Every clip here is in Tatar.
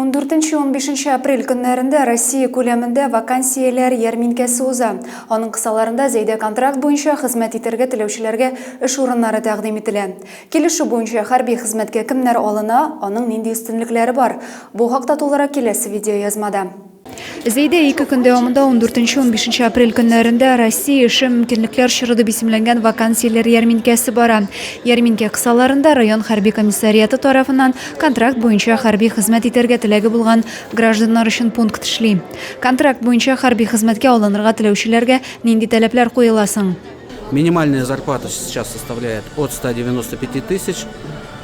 Ундүртенче-унбишенче апрель көннәрендә Россия күләмендә вакансияләр ярминкәсе уза. Аның кысаларында Зәйдә контракт буенча хезмәт итәргә теләүчеләргә эш урыннары тәкъдим ителә. Килешү буенча хәрби хезмәткә кемнәр алына, аның нинди өстенлекләре бар? Бу хакта тулырак киләсе видеоязмада. Зәйдә ике көн дәвамында, ундүртенче-унбишенче апрель көннәрендә Россия эше, мөмкинлекләр чоры дип исемләнгән вакансияләр ярминкәсе бара. Ярминкә кысаларында район хәрби комиссариаты тарафыннан контракт буенча хәрби хезмәт итәргә теләге булган гражданнар өчен пункт эшли. Контракт буенча хәрби хезмәткә алынырга теләүчеләргә нинди таләпләр куела соң? Минимальная зарплата сейчас составляет от 195 тысяч.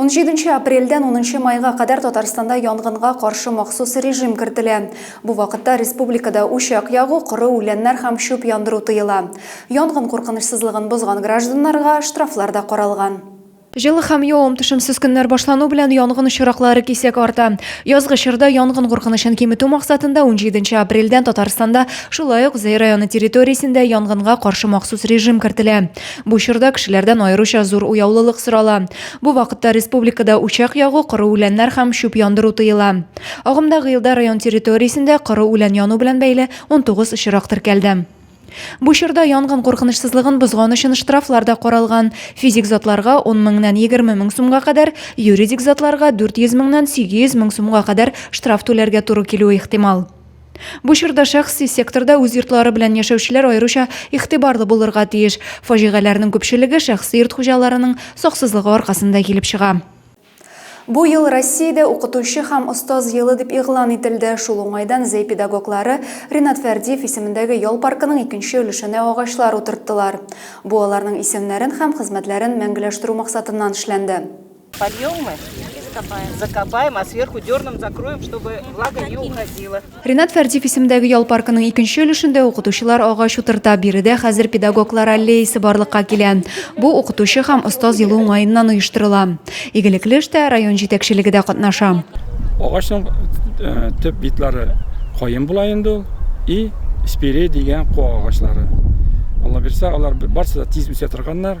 17 нче апрельдән 10 нчы майга кадәр Татарстанда янгынга каршы махсус режим кертелә. Бу вакытта республикада учак ягу, коры үләннәр һәм чүп яндыру тыела. Янгын куркынычсызлыгын бозган гражданнарга штрафлар да каралган. Җылы һәм явым-төшемсез көннәр башлану белән янгын очраклары кисәк арта. Язгы чорда янгын куркынычын киметү максатында 17 нче апрельдән Татарстанда, шулай ук Зәй районы территориясендә янгынга каршы махсус режим кертелә. Бу чорда кешеләрдән аеруча зур уяулылык сорала. Бу вакытта республикада учак ягу, коры үләннәр һәм чүп яндыру тыела. Агымдагы елда район территориясендә коры үлән яну белән бәйле 19 очрак теркәлде. Бу чорда янгын куркынычсызлыгын бозган өчен штрафлар да каралган, физик затларга 10 меңнән 20 мең сумга кадәр, юридик затларга 400 меңнән 800 мең сумга кадәр штраф түләргә туры килүе ихтимал. Бу чорда шәхси секторда үз йортлары белән яшәүчеләр аеруча игътибарлы булырга тиеш. Фаҗигаләрнең күпчелеге шәхси йорт хуҗаларының саксызлыгы аркасында килеп чыга. Бу ел Россиядә Укытучы һәм остаз елы дип игълан ителде. Шул уңайдан Зәй педагоглары Ринат Фәрдиев исемендәге ял паркының икенче өлешенә агачлар утырттылар. Бу аларның исемнәрен һәм хезмәтләрен мәңгеләштерү максатыннан эшләнде. Польем мы и закопаем. Закопаем, а сверху дерном закроем, чтобы влага не уходила. Ренат Фәрдиев исемдәге ял паркының икенче өлешендә укытучылар агач утырта. Биредә хәзер педагоглар аллеясы барлыкка килә. Бу укытучы һәм остаз елы уңаеннан оештырыла. Игелекле эштә район җитәкчелеге дә катнаша. Агачның э, төп битлары каен була инде ул и спире дигән куа агачлары. Алла бирсә, алар барсы да тиз үсә торганнар.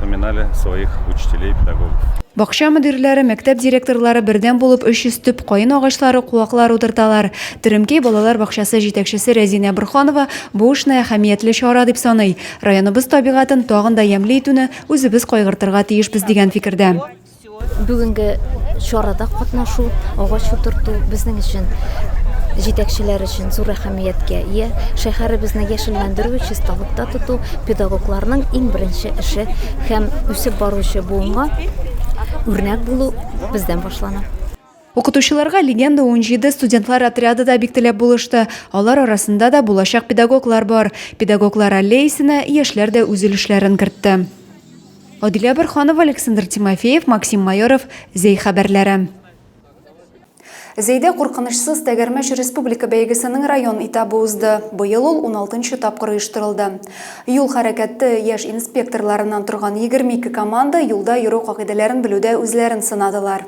Вспоминали своих учителей, педагогов. Бакча мөдирләре, мәктәп директорлары бердәм булып 300 төп каен агачлары, куаклар утырталар. Теремкәй балалар бакчасы җитәкчесе Рәзинә Борханова бу эшне әһәмиятле чара дип саный. Районыбыз табигатен тагын да ямьле итүне үзебез кайгыртырга тиешбез дигән фикердә. Бүгенге чарада катнашу, агач утырту безнең өчен җитәкчеләр өчен зур әһәмияткә ия. Шәһәребезне яшелләндерү, чисталыкта тоту педагогларның иң беренче эше һәм үсеп баручы буынга үрнәк булу бездән башлана. Укытучыларга Легенда 17 студентлар отряды да бик теләп булышты. Алар арасында да булачак педагоглар бар. Педагоглар аллеясенә яшьләр дә үз өлешләрен кертте. Адилә Борханова, Александр Тимофеев, Максим Майоров, Зәй хәбәрләре. Зәйдә куркынычсыз тәгәрмәч республика бәйгесенең район этабы узды. Быел ул 16 тапкыр оештырылды. Юл хәрәкәте яшь инспекторларыннан торган 22 команда юлда йөрү кагыйдәләрен белүдә үзләрен сынадылар.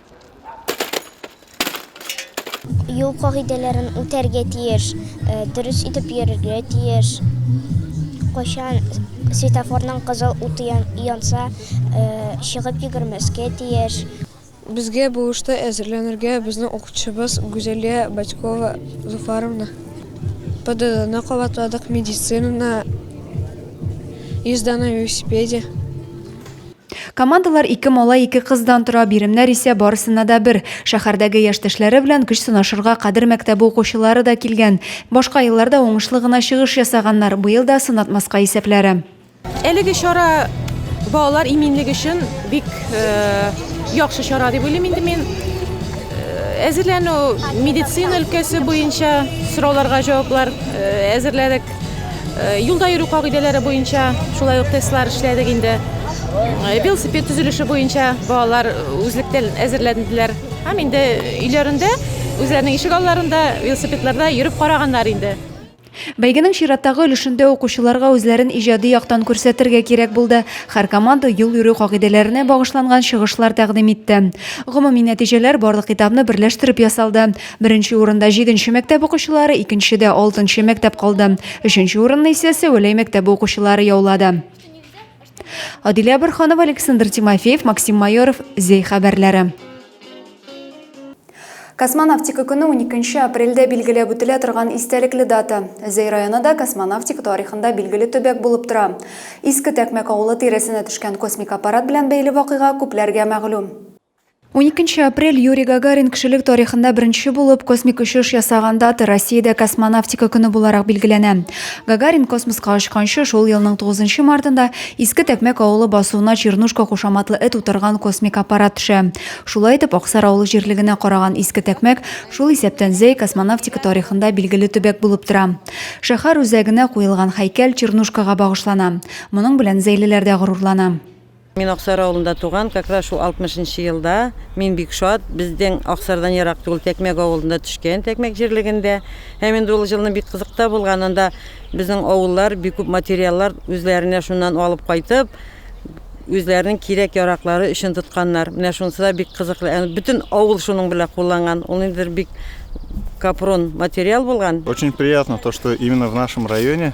Юл кагыйдәләрен үтәргә тиеш, э, дөрес итеп йөрергә тиеш. Кайчан светофорның кызыл уты янса, э, чыгып йөгермәскә тиеш. Безгә бу эштә әзерләнергә безнең укытучыбыз Гүзәлия Батькова Зуфаровна, ПДДны кабатладык, медицинаны, езда на велосипеде. Командалар ике малай, ике кыздан тора, биремнәр исә барысына да бер. Шәһәрдәге яшьтәшләре белән көч сынашырга Кадер мәктәбе укучылары да килгән. Башка елларда уңышлы гына чыгыш ясаганнар, быел да сынатмаска исәпләре. Әлеге чара балалар иминлеге өчен бик яхшы чара дип уйлыйм инде мин. Әзерләнү медицина өлкәсе буенча сорауларга җаваплар әзерләдек. Э, юлда йөрү кагыйдәләре буенча шулай ук тестлар эшләдек инде э, велосипед төзелеше буенча балалар үзлектән әзерләнделәр һәм инде өйләрендә үзләренең ишек алларында велосипедларда йөреп караганнар инде Бәйгенең чираттагы өлешендә укучыларга үзләрен иҗади яктан күрсәтергә кирәк булды. Һәр команда юл йөрү кагыйдәләренә багышланган чыгышлар тәкъдим итте. Гомуми нәтиҗәләр барлык китапны берләштереп ясалды. Беренче урында җиденче мәктәп укучылары, икенчедә алтынчы мәктәп калды. Өченче урынны исә Сәвәләй мәктәбе укучылары яулады. Адилә Борханова, Александр Тимофеев, Максим Майоров, Зей хәбәрләре. Космонавтика көне 12 апрельдә билгеләп үтелә торган истәлекле дата. Зәй районы да космонавтика тарихында билгеле төбәк булып тора. Иске Тәкмәк авылы тирәсенә төшкән космик аппарат белән бәйле вакыйга күпләргә мәгълүм. 12 апрель Юрий Гагарин кешелек тарихында беренче булып космик очыш ясаган дата Россиядә космонавтика көне буларак билгеләнә. Гагарин космоска очканчы шул елның 9 мартында Иске Тәкмәк авылы басуына Чернушка кушаматлы эт утырган космик аппарат төшә. Шулай итеп, Аксар авылы җирлегенә караган Иске Тәкмәк шул исәптән Зәй космонавтика тарихында билгеле төбәк булып тора. Шәһәр үзәгенә куелган һәйкәл Чернушкага багышлана. Моның белән зәйлеләр дә горурлана. Мин Аксар авылында туган, как раз шул 60 нчы елда. Мин бик шат, безнең Аксардан ерак түгел Тәкмәк авылында төшкән, Тәкмәк җирлегендә. Һәм инде ул җылны бик кызык та булган, анда безнең авыллар бик күп материаллар үзләренә шуннан алып кайтып, үзләренең кирәк-яраклары өчен тотканнар. Менә шунысы да бик кызыклы, ән бөтен авыл шуның белән кулланган. Ул инде бик капрон материал булган. Очень приятно то, что именно в нашем районе.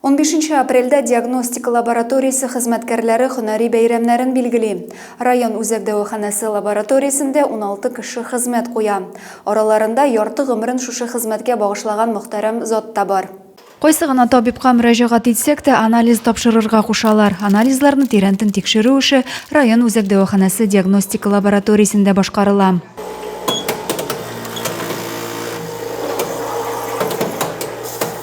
Унбишенче апрельдә диагностика лабораториясе хезмәткәрләре һөнәри бәйрәмнәрен билгели. Район үзәк дәваханәсе лабораториясендә уналты кеше хезмәт куя. Араларында ярты гомерен шушы хезмәткә багышлаган мөхтәрәм зат та бар. Кайсы гына табибка мөрәҗәгать итсәк тә, анализ тапшырырга кушалар. Анализларны тирәнтен тикшерү эше район үзәк дәваханәсе диагностика лабораториясендә башкарыла.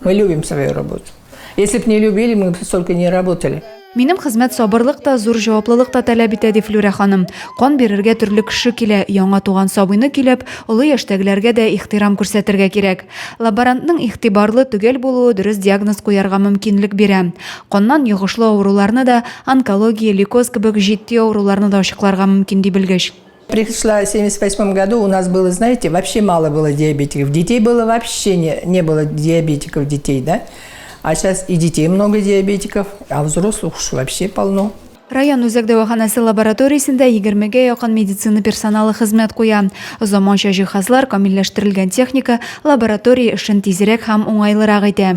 Мы любим свою работу. Если бы не любили, мы бы столько не работали. Минем хезмәт сабырлык та, зур җаваплылык та таләп итә, ди Флюрә ханым. Кан бирергә төрле кеше килә, яңа туган сабыйны көйләп, олы яшьтәгеләргә дә ихтирам күрсәтергә кирәк. Лаборантның игътибарлы, төгәл булуы дөрес диагноз куярга мөмкинлек бирә. Каннан йогышлы авыруларны да, онкология, лейкоз кебек җитди авыруларны да ачыкларга мөмкин, ди белгеч. Пришла в 78 году, у нас было, знаете, вообще мало было диабетиков. Детей было вообще не, не было диабетиков детей, да? А сейчас и детей много диабетиков, а взрослых уж вообще полно. Район үзәк дәваханәсе лабораториясендә 20-гә якын медицина персоналы хезмәт куя. Заманча җиһазлар, камилләштерелгән техника лаборатория эшен тизрәк һәм уңайлырак итә.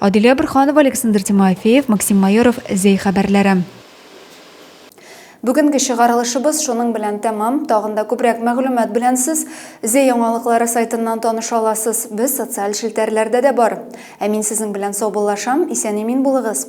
Адилә Бөрханова, Александр Тимофеев, Максим Майоров, Зәй хәбәрләре. Бүгенге чыгарылышыбыз шуның белән тәмам. Тагын да күбрәк мәгълүмат белән сез Зе яңалыклары сайтыннан таныша аласыз. Без социаль челтәрләрдә дә бар. Ә мин сезнең белән саубуллашам. Исән-имин булыгыз.